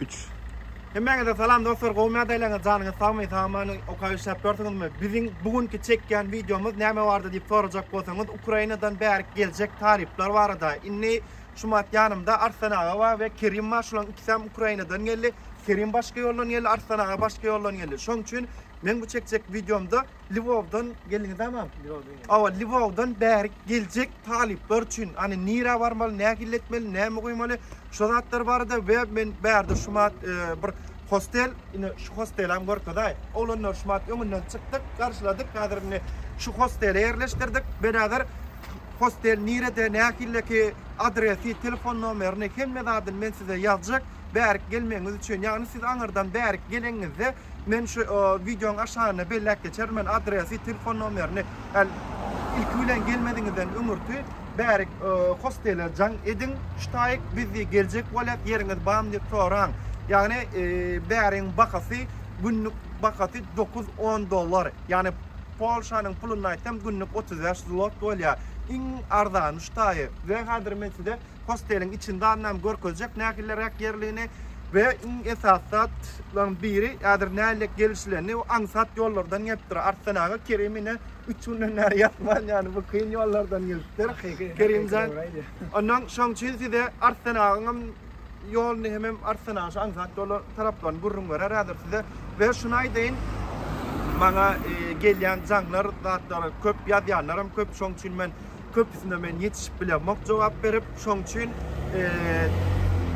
Üç. Hemmäňize salam dostlar gowy mi adaýlaňyz janyňyz sagmy sag amany okaý işläp ýörsüňizmi biziň bu günki çekýän wideomyz näme bardy diýip sorajak bolsaňyz Ukrainadan bärik geljek tarifler barada indi şumat ýanymda Arslan aga bar we Kerim bar şulaň ikisem Ukrainadan geldi Kerim başga ýoldan geldi Arslan aga başga ýoldan geldi şoň üçin men bu çekjek wideomda Lwowdan geldiňizämi? Lwowdan geldik. Awa, Lwowdan bäri geljek talyplar üçin, ýani nirä barmaly, nähili etmeli, näme goýmaly, şu zatlar barada we men bärde şu mat e, bir hostel, ine şu hosteli hem görkezäý. Oglanlar şu mat öňünden çykdyk, garşyladyk. Häzir indi şu hostele ýerleşdirdik. Beräder hostel nirede, nähilleki adresi, telefon nomerini hemme zadyny men size ýazjak. Bärik gelmegiňiz üçin, ýagny siz aňyrdan bärik geleňizde Men şu wideoň aşagyna belläp geçerin men adresy telefon nomerini el ilki bilen gelmediňizden öňürti bärik hostele jaň ediň ştaýk biz diýip geljek bolýas ýeriňiz bamy diýip soraň ýagny bäriň bahasy günlük bahasy dokuz on dollar ýagny polşanyň pulunda aýtsam günlük otuz bäş zlot bolýar iň arzany ştaýy we häzir men size hosteliň içinde annam görkezjek nähilleräk ýerligini we iň esasy zatlaryň biri häzir nähillek gelişilenini we aňsat ýollardan gelipdir. Arslan aga Kerim ine üç günden bäri ýatman ýany bu kyn ýollardan gelipdir. Kerimjan ondan şoň üçin size Arslan agaň hem ýoluny hemem Arslan aga şu aňsat ýolar taraplaryny gürrüň berer häzir size. We şuny aýdaýyn maňa gelýän jaňlar zatlary köp ýazýanlar hem köp şoň üçin men Köpüsine men ýetişip bilemok jogap berip, şoň üçin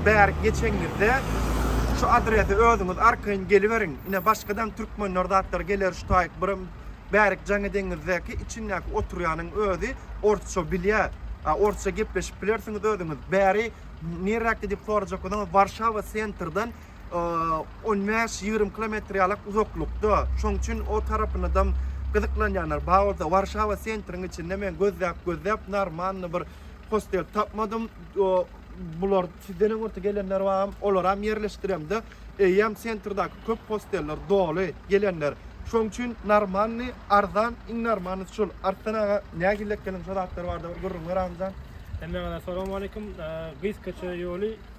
bärik geçeňňizde şu adrese özüňiz arkaýyn geliberiň. Ine başgadam türkmenler zatlar geler şu taýyk birem bärik jaňy deňizdäki içindäki oturýanyň özi orsça bilýä. A orsça gepleşip bilersiňiz özüňiz. Bäri nirräkde diýip sorajak bolsaňyz Warşawa sentrden on bäş, ýigrimi kilometr ýalak uzaklykda. Şoň üçin o tarapynadam gyzyklanýanlar bar bolsa, Warşawa sentriň içinde men gözläp-gözläp normalny bir hostel tapmadym. Bular sizden öňürti gelenler baram, olaram ýerleşdiremde, eýýäm sentrdäki köp hosteller doly gelenler. Şoň üçin normalny, arzan, iň normalnysy şol. Arslan aga, nähili ekeniň, şo zatlar barada bir gürrüň ber agmjam. Hemmäňize salam aleýkum. Gyz köçe ýoly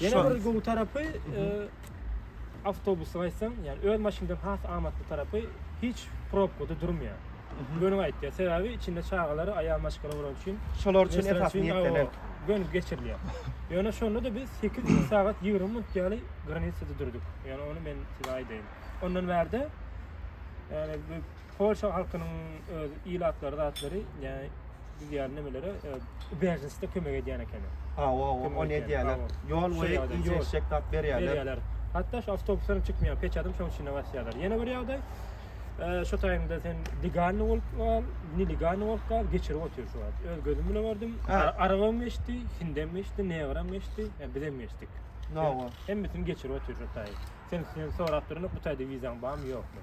Ýene bir gowy tarapy, awtobusyň aýtsaň, ýani öz maşyndan has amatly tarapy, hiç probkada durmaýar. Göni gaýtýar. Sebäbi içinde çagalary, aýal maşgala bolan üçin. Şolar üçin esasy niýetlenen. Göni geçirilýär. Ýöne şonda-da biz 8 sagat 20 minut ýaly granisada durduk. Ýani ony men size aýdaýyn. Ondan bärde, ýani Polşa halkynyň öz ilatlary zatlary yani biz yani nemelere bejinste kömek edýän ekeni. Ha, o, o, o ne diýerler? Ýol we ince eşek tap berýärler. Berýärler. Hatda şu awtobuslaryň çykmaýan peçadyň şoň içinde basýarlar. Ýene bir ýagdaý. Şu taýynda sen legalny bolup gal, ne legalny bolup gal, geçirip otyr şu wagt. Öz gözüm bilen gördüm. Arabam geçdi, hindem geçdi, negram geçdi, biz hem geçdik. No, o. Hemmetini geçirip otyr şu taýy. Sen sen sorap durun, bu taýda wizaň barmy, ýokmy?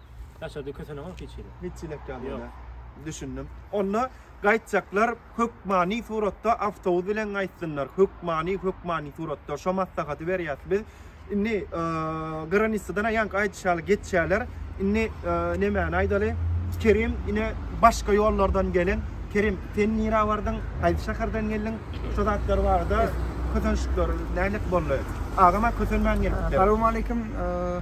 Daşarda kösenogam hiç hili. Hiç çilek ýaly Ýok. ýöne. Düşündim. Onda gaýtjaklar hökmany suratda awtobus bilen gaýtsynlar. Hökmany, hökmany suratda. Şo maslahaty berýäs biz. Indi eee, granissadan aýank aýdyş ýaly geçýärler. Indi eee, nemäni aýdaly? Kerim ine başga ýollardan gelen. Kerim, sen nirä bardyň? Haýsy şäherden geldiň? Şu zatlar barada kösenişikler nähili boldy? Agam-a kösenmän gelipdir. Salowmaleýkim. Eee,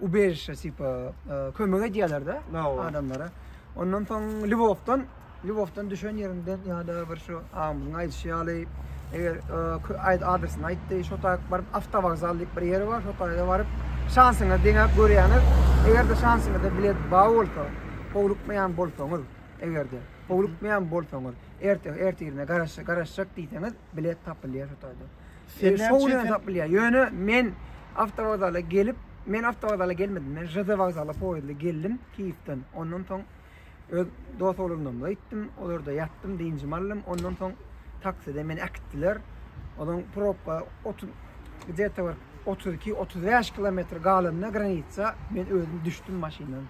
ubežişe tipa kömek edýärler de adamlara. Ondan soň Lwowdan, Lwowdan düşen ýerinden ýa-da bir şu agymyzyň aýdyşy ýaly eger aýt adresyny aýtdy, şo taýak baryp awtowokzal diýip bir ýeri bar, şo taýa baryp şansyňyzy deňäp görýäňiz. Eger-de şansyňyzda bilet bar bolsa, howlukmaýan bolsaňyz, eger-de howlukmaýan bolsaňyz, ertir, ertirine garaşjak, garaşjak diýseňiz, bilet tapylýar şo taýda. Seni şo gün ýaňa tapylýar. Ýöne men awtowokzala gelip, men awtowokzala gelmedim. Men ŽD wokzala poýezdle geldim Kiýewden. Ondan soň öz dost oglumyna gitdim. Olarda ýatdym, dynjymy aldym. Ondan soň takside meni äkitdiler. Onuň probka otuz gdeta bir otuz iki, otuz bäş kilometr galanda granitsa men özüm düşdüm maşyndan.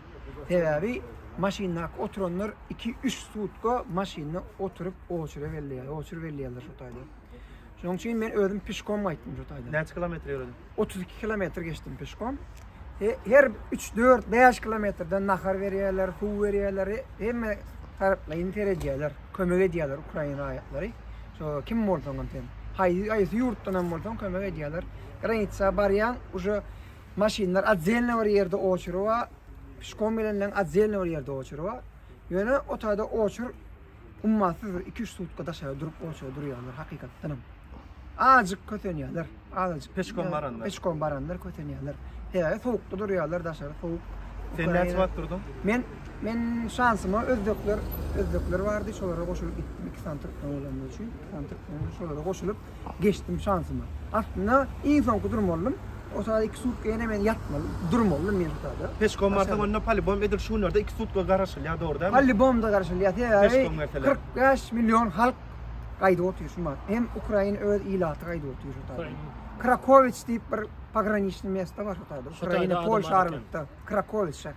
Sebäbi maşyndaky oturanlar iki, üç sutka maşynda oturyp oçere belleýär, oçur belleýärler şo taýda. Şonuň üçin men özüm pişkom gaýtdym şu taýdan. Näçe kilometr ýöredim? 32 kilometr geçdim pişkom. Her 3, 4, 5 kilometrden nahar berýärler, suw berýärler, hemme taraplaýyn seredýärler, kömek edýärler ukrain raýatlary. Şo kim bolsaň hem sen, haýsy haýsy ýurtdan hem bolsaň kömek edýärler. Granitsa barýan, uje maşynlar atzelne bir ýerde oçuryp, pişkom bilen atzelne bir ýerde oçuryp. Ýöne o taýda oçur Gummasyz bir iki-üç sutka daşary durup goýşa durýarlar hakykatdanam. Azjyk kösenýärler, azajyk. Peçkom baranlar. Peçkom baranlar kösenýärler. Sebäbi sowukda durýarlar daşary sowuk. Sen näçe wagt durduň? Men men şansyma özbekler özbekler bardy, şolara goşulyp gitdim. Iki sany türkmen bolanlar üçin, iki sany türkmen şolara goşulyp Geçdim şansyma. Aslynda iň soňky durmalydym. O sagat iki sutka ýene men ýatmaly durmalydym men şu sagda. Peşkom barsaň onda polibom edil şu günlerde iki sutka garaşylýar dogry dälmi? Polibomda garaşylýar sebäbi kyrk bäş million halk gaýdyp otyr şu mahat. Hem ukrain öz ilaty gaýdyp otyr şu sagda. Krakowiç diýip bir pograniçnyý mesta bar şu sagda. Ukraina polşa aralykda. Krakowiç şa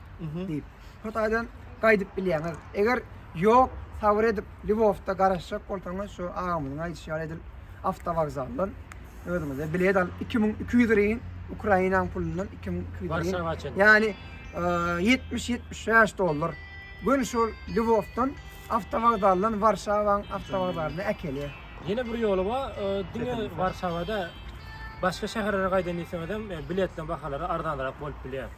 diýip. Hytaýdan gaýdyp bilýäňiz. Eger ýok, sabyr edip Lwowda garaşjak bolsaňyz şu agamyzyň aýdyşy ýaly edil awtowokzaldan özüňize bilet alyp 2200 ryn Ukrainanyň pulundan 2200 Warşawa çenli. Ýani 70-75 dollar. Gün şol Lwowdan awtowokzaldan Warşawaň awtowokzalyna äkelýär. Ýene bir ýoly bar, e, diňe Warşawada başga şäherlere gaýdan diýseňizem e, biletleň bahalary arzanrak bolup bilýär.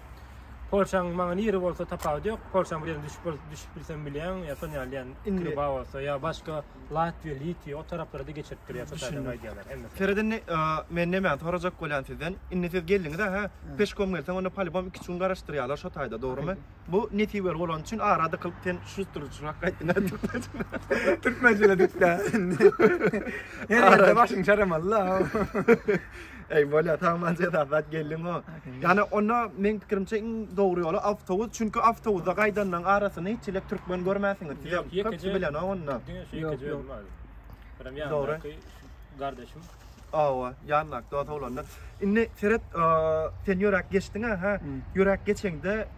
Polşaň maňa niri bolsa tapawudy yok. Polşaň bir ýerine düşüp bol- düşüp bilsem bilýän, ýa şon ýaly ýan Indi- Küba bolsa, ýa başga Latwiýa, Litwiýa o taraplara da geçirip durýar sotadan Düşündim. aýdýarlar hemmesi. Seret indi, e, men nämäni sorajak bolýan sizden. Indi siz geldiňiz-ä, hä? Peşkom gelseň, onda polibom iki-üç gün garaşdyrýarlar şo taýda, dogrymy? Bu nesibeli bolan üçin ara dykylyp sen şustrçyrak gaýtdyň-ä türkmençe. Türkmençe diýip-ä indi. Her ýerde başyň çaramaly-da. Eý bolýa tamam jezasat geldiňo. Ýani onda meň pikirimçe iň dogry ýoly awtobus, çünki awtobusda gaýdanlaryň arasyny hiç ile türkmen görmäsiňiz. Siz hem köp bilen onda. Diňe şu ýekeje ýok ýok. Birim ýandaky gardaşym. Awa, ýandak dost oglanda. Indi seret, sen ýöräp geçdiňä, ha? Ýöräp geçeňde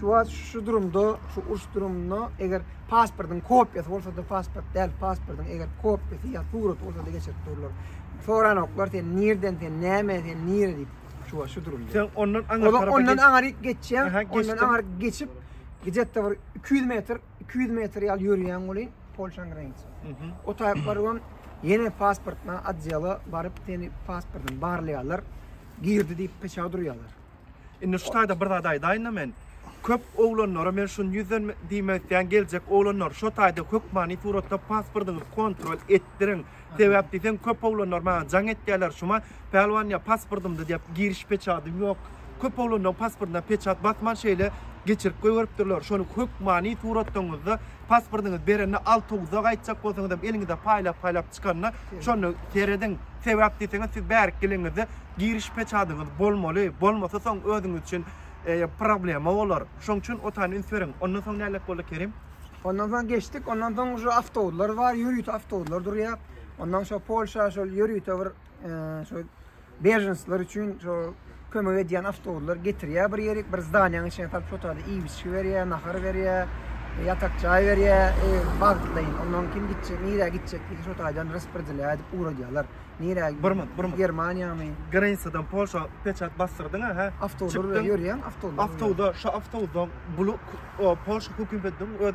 Çuwat şu durumda, şu uruş durumynda eger pasportyň kopýasy bolsa-da pasport däl, pasportyň eger kopýasy ýa suraty bolsa-da geçirip durlar. Soranoklar sen nirden, sen näme, sen nire diýip. Çuwat şu durumda. Sen ondan aňyr tarapa Ondan aňyryk geçýäň, ondan aňyryk geçip gidetde bir 200 metr, 200 metr ýaly ýörýäň welin Polşanyň graniçasy. Mhm. O taýyp barybam ýene pasportna odýela baryp seni pasportyny barlaýarlar. Girdi diýip peçaw durýarlar. Indi şu taýda bir zat aýdaýyn-da men. Köp oglanlara men şuny ýüzden diýmek isleýän, geljek oglanlar, şo taýda hökmany suratda pasportyňyzy kontrol etdiriň. Sebäp diýseň, köp oglanlar maňa jaň etýärler, Şuma, Pälwan, ýa pasportymda diýip, giriş peçadym ýok. Köp oglanlaryň pasportyna peçat basman şeýle geçirip goýberipdirler. Şony hökmany suratdaňyzda Pasportyňyzy berende awtobusa gaýtjak bolsaňyzam eliňize paýlap-paýlap çykanda şonda serediň. Sebäp diýseňiz siz bärik geleňizde giriş peçadyňyz bolmaly. Bolmasa soň özüňiz üçin problema bolar. Şoň üçin o taýyny üns beriň. Ondan soň nädip boldy Kerim? Ondan soň geçdik. Ondan soň şu awtobuslar bar. Ýörite awtobuslar durýar. Ondan şu Polşa şol ýörite bir Şo berjensler üçin şo kömek edýän awtobuslar getirýär bir ýerik, bir zdaniýanyň içine salyp şo taýda iýmişi berýär, nahar berýär, ýatak jaý berýär, wagtlaýyn. Ondan kim gitjek, nirä gitjek diýip şo taýdan rasporedeliýa edip ugradýarlar. Nirä? Bir minut, bir minut. Germaniýamy? Granisadan Polşa peçat basdyrdyň ha? Awtobuslar bilen ýörýän, awtobuslar. Awtobusda, şo awtobusda bulu Polşa hökümetiň öz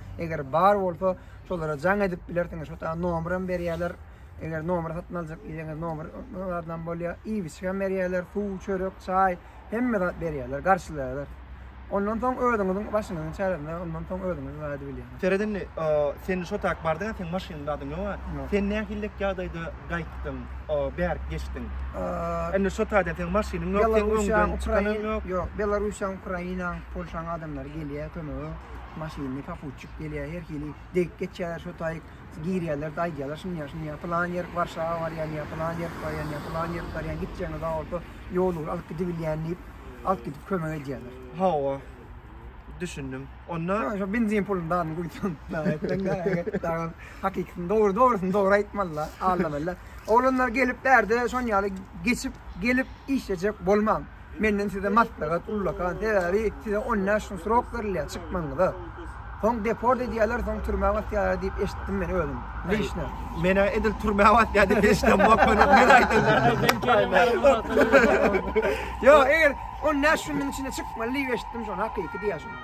Eger bar bolsa şolara jaň edip bilersiňiz. Şo taýda nomer hem berýärler. Eger nomer satyn aljak diýseňiz nomer adam bolýar. Iýibiçlik hem berýärler. Suw, çörek, çaý hemme zat berýärler, garşylaýarlar. Ondan soň özüňiziň başyňyzyň çäresinde ondan soň özüňiz zat edip bilýärsiňiz. Seret indi, sen şo taýda bardyň, sen maşynyň adyň ýok-a. Sen nähillik ýagdaýda gaýtdyň, bärik geçdiň? Indi şo taýdan seň maşynyň ýok, seň öňüňden çykanyň ýok. Ýok, Belarussiýanyň, Ukrainanyň, Polşanyň adamlary gelýär kömege. Maşynly poputçik gelýär, her hili degip geçýärler, şo taýyk girýärler-de aýdýarlar şuny-ýa, şuny-ýa, pylan ýerik Warşawa barýan ýa pylan ýerik barýan ýa pylan ýerik barýan, gitjegiňe zor bolsa, ýol ugra alyp gidibilýän diýip, alyp gidip kömek edýärler. Hawa, düşündim. Onda. Ýa, şo benzin puluny dadyny guýsaň, dagy etseň, dagy et, dagam hakykysyny dogry, dogrusyny dogry aýtmaly-la, aldamaly-la. Oglanlar gelip bärde şon ýaly geçip, gelip işlejek bolmaň. Menden size maslahat ullakan, sebäbi size 10 näş gün srok berilýär çykmagyňyza. Soň deport edýärler, soň türmä basýarlar diýip eşitdim men özüm. Lişne. Menä edil türmä basýar diýip eşitdim bokman. Men aýtdylar. Ýok, eger 10 näş günüň içinde çykmaly diýip eşitdim şony hakyky diýýär şony.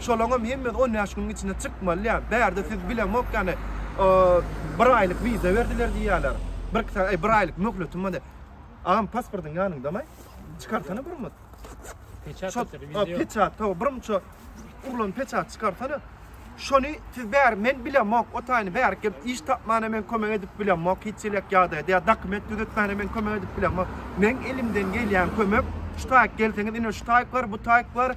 Şolaňam hemmesi on bäş günüň içinde çykmaly diýýär. Bärde siz bilemok ýaly bir aýlyk wiza berdiler diýýärler. Birki sagat, eý bir aýlyk möhletim bar diýýär. Agam pasportyň ýanyňdamy? Çykarsana birmut. Peçat ýatyr, wiza ýok. Peçat, hawa birmut şo urlan peçat çykarsana. Şony siz bäri men bilemok, o taýyny bärik gelip iş tapmana men kömek edip bilemok, hiç elek ýagdaýda ýa dokument düzetmäne men kömek edip bilemok. Meň elimden gelýän kömek şu taýyk gelseňiz ine şu taýyk bar, bu taýyk bar,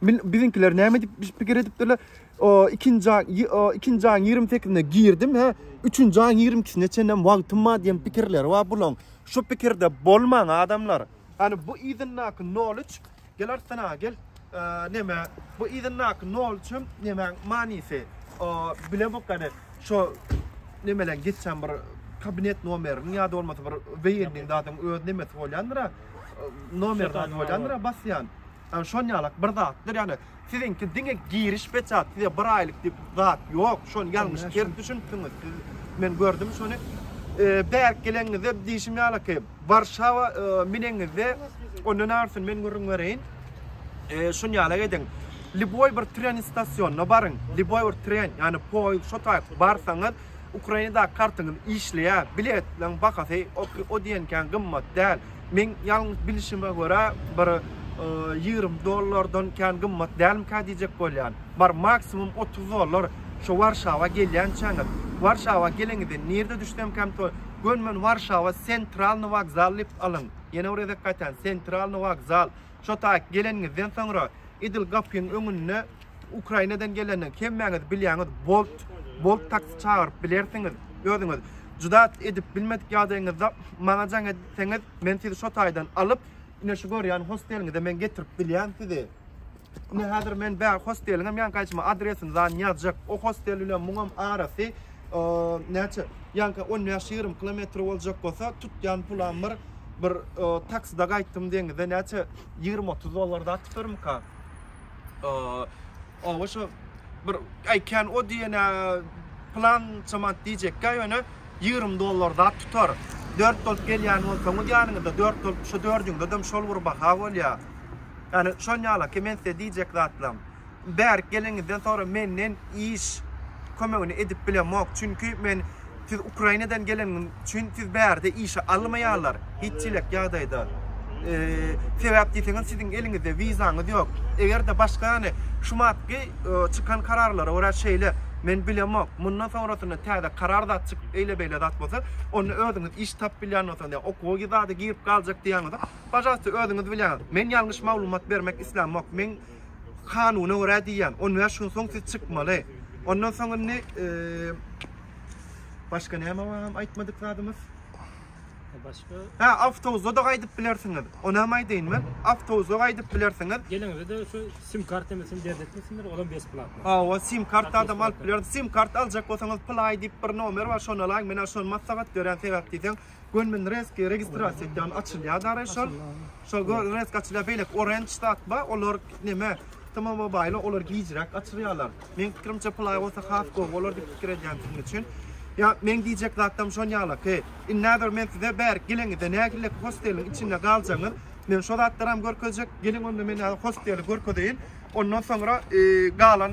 Min, biziňkiler näme diýip biş- pikir edipdirler? O, ikinji aý, ýy- o, ikinji aýyň ýigrimi sekizinde girdim, hä, üçünji aýyň ýigrimi ikisine çenlem wagtym bar diýen pikirleri bar bulaň. Şu pikirde bolmaň, adamlar. Hany, bu yzyndaky nol üç, gel artsyna, gel. Eee, neme, bu yzyndaky nol üç hem nemäň manysy? O, bilemok hany, şo nemeleň geçen bir kabinet nomeriniň ýa-da bolmasa bir weýenniň zadyň öz nemesi bolýandyr-a, eee, nomer zat bolýandyr-a basýan. Ýagny şon ýalak bir zatdyr ýagny siziňki diňe giriş peçat size bir aýlyk diýip zat ýok şony ýalňyş ters düşünipsiňiz siz men gördüm şony bärik geleňizde diýşim ýalaky warşawa mineňizde ondan arsyn men gürrüň bereýin şun ýalak ediň liboý bir tren istasionna baryň liboý bir tren ýagny poýuz şo taýyp barsaňyz Ukrainadaky kartyňyz işleýär. Biletleň bahasy o diýen kän gymmat däl. Meň ýalňyş bilişime görä bir ýigrimi dollardan kän gymmat dälmikä diýjek bolýan. Bar maksimum otuz dollar şo Warşawa gelýänçäňiz. Warşawa geleňizde nirde düşsemkäm to Gönmen Warşawa Sentralny wokzal diýip alyň. Ýene bir gezek gaýtaýan Sentralny wokzal. Şo taýyk geleniňizden soňra edil gapyň öňünde Ukrainadan geleniň hemmäňiz bilýäňiz Bolt Bolt taksi çagyryp bilersiňiz özüňiz juda edip bilmedik ýagdaýyňyzda maňa jaň etseňiz men sizi şo taýdan alyp ine şu görýän hosteliňize men getirip bilýän sizi ine häzir men bä hosteliňem ýaňky aýtma adresini zan ýazjak o hostel bilen muňam arasy Näçe? Ýaňky on bäş ýigrimi kilometr boljak bolsa, tutýan pulam bir, bir taksida gaýtdym deňize, näçe, ýigrimi otuz dollar zat tutarmyka? Oba şo bir aý kän o diýenä plança manat diýjekkä, ýöne ýigrimi dollar zat tutar. Dört bolup gelýän bolsaňyz ýanyňyzda, dört bolup şu dördüňizedem şol bir baha bolýar. Ýani şon ýalaki men size diýjek zatlam. Bärik geleniňizden soňra menden iş kömegini edip bilemok, çünki men siz Ukrainadan geleniňiz üçin siz bärde işe almaýarlar, hiç çilek ýagdaýda. Sebäp diýseňiz siziň eliňizde wizaňyz ýok. Eger-de başga ýany şu matky çykan kararlara görä şeýle, men bilemok. Mundan soňrasynda täze karar zat çykyp eýle beýle zat bolsa, onda özüňiz iş tapyp bilýän bolsaňyz ýa okuwa gidada girip galjak diýýäňizok, pažalsta özüňiz bilýäňiz. Men ýalňyş maglumat bermek islämok. Men Kanuna görä diýýän, on bäş gün soň siz çykmaly. Ondan soň indi başga näme bar aýtmadyk zadymyz? Başga? Ha, awtobusda da gaýdyp bilersiňiz. Ony hem aýdaýyn men. Awtobusda gaýdyp bilersiňiz. Geliňizde şu sim kartymyz hem berip etmesinler, olam beş plat. Ha, o sim kart adam alyp biler. Sim kart aljak bolsaňyz, play diýip bir nomer bar, şonda alaň. Men şony maslahat berýän sebäp diýseň, Gönmen reski registrasiýa etýän açylýar dary şol. Şol resk açylýar beýleki orange zat bar olar neme T-Mobile olar gijräk açylýarlar. Men pikirimçe play bolsa has gowy bolar diýip pikir edýän sizin üçin. Ya men diyecek zattam şon yala ki. Innader men size ber geleňizde nägille hosteliň içinde galjaňyz. Men şo zatlaram görkezjek. Geliň onda men hosteli görkezeyin. Ondan sonra e, galan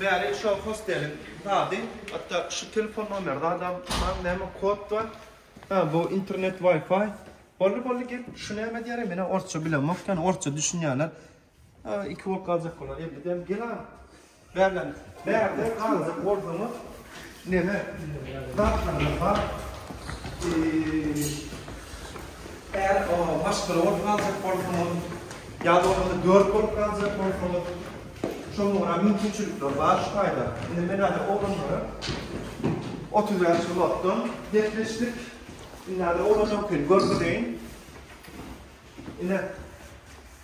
Bäri şo hosteliň zady. Hatda şu telefon nomer zadam bar näme kod bar. Hä bu internet wifi. Boldy boldy gel şu näme diýer men hem orsça bilemok ýöne orsça düşünýänler iki bolup galjak bolar elli dem gel a. Bärden bärde galjak bolsaňyz Neme zatlarymyz bar? Är maşgala bolup galjak bolsaňyz, ýa bolmasa dört bolup galjak bolsaňyz, şonuň örän mümkinçilikleri bar şu taýda. Indi men häzir oglanlara otuz bäş ulatdan gepleşdik. Indi häzir oglanlarkini görkezeýin. Ine.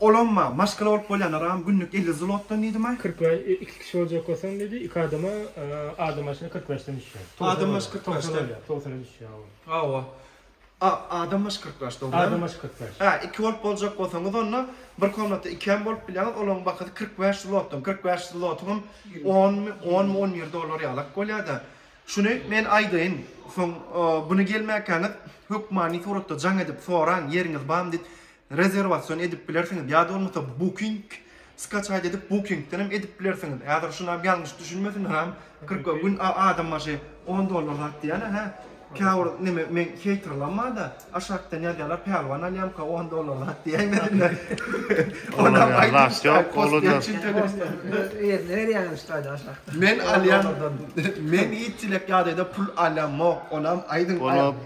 Olam bar, maşgala bolup bolýanlaram günlük elli zlotdan diýdim-aý. Kyrk bäş, iki kişi boljakkasaň diýdi, iki adama, adam başyna kyrk bäşden düşýär. Adam baş kyrk bäşden. Togsan bolýar, togsana düşýär, hawa. Hawa. Adam baş kyrk bäş, dogrymy? Adam baş kyrk bäş. Hä, iki bolup boljak bolsaňyz onda, bir komnatda iki hem bolup bilýäňiz, olaryň bahasy kyrk bäş zlotdan. Kyrk bäş zlotyňam onmy, onmy, on bir dollar ýalak bolýar-da. Şuny men aýdaýyn, soň buny gelmäkäňiz hökmany suratda jaň edip soraň, ýeriňiz barmy diýip. Rezerwasion edip bilersiňiz ýa-da bolmasa booking skaçat edip bookingden hem edip bilersiňiz. Häzir şunam ýalňyş düşünmesinler am kyrk gün adam başy on dollar zat diýýäne hä käbir neme meň heýterlam barda aşakdan ýazýalar pälwan alýamka on dollar zat diýäýmesinler onam aýdym ýok olar ýerine berýäňiz gaýda aşakdan men alýan men hiç çilek ýadaýda pul alýamok onam aýdyň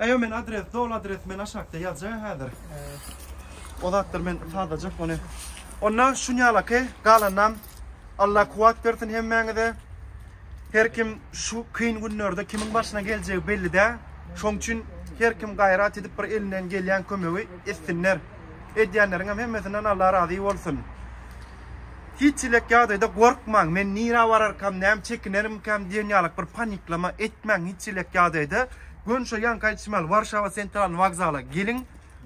Eýo men adres dol adres men aşakda ýazjaga häzir. O zatlar men tazajak ony. Onda şunýalaky galanam Allah kuwat bersin hemmäňize. Her kim şu kyn günlerde kimiň başyna geljegi belli dä. Şoň üçin her kim gaýrat edip bir elinden gelýän kömegi etsinler. Edýänleriňem hemmesinden Allah razy bolsun. Hiç elek ýagdaýda gorkmaň, men nirä bararkam, näme çekinerimkäm diýen ýalyk bir paniklama etmäň hiç elek ýagdaýda. Gönçe ýaňky aýdyşym ýaly Warşawa sentralny wokzala geliň.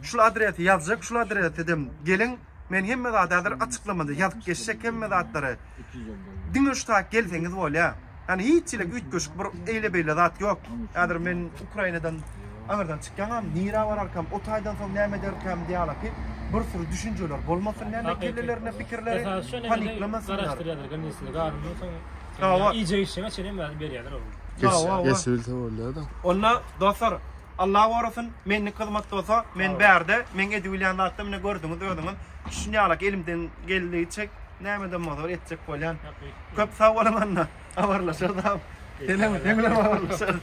Şul adresi ýazjak, şul adresedem geliň. Men hemme zady häzir açyklamada ýazyp geçjek hemme zatlary. Diňe şu tak gelseňiz bolýa. Ýani hiç hili üýtgeşik bir eýle beýle zat ýok. Häzir men Ukrainadan aňyrdan çykýaňam, nirä bararkam, o taýdan soň näme ederkäm diýalaky bir sürü düşünjeler bolmasyn näme kellelerinde pikirleri, paniklamasynlar. Sawat. Iýjek içjege çenli hem berýärler oglum. Geçibilse bolýar-da. Onda dostlar, Allah gorasyn, mendeki hyzmat bolsa, men bärde, meň edip bilýän zatym ine gördüňiz özüňiz. Şuny ýalak elimden geldigiçe nämeden bolsa etjek bolýan. Köp sag boluň onda. Habarlaşarys. Senem, seň bilen habarlaşarys.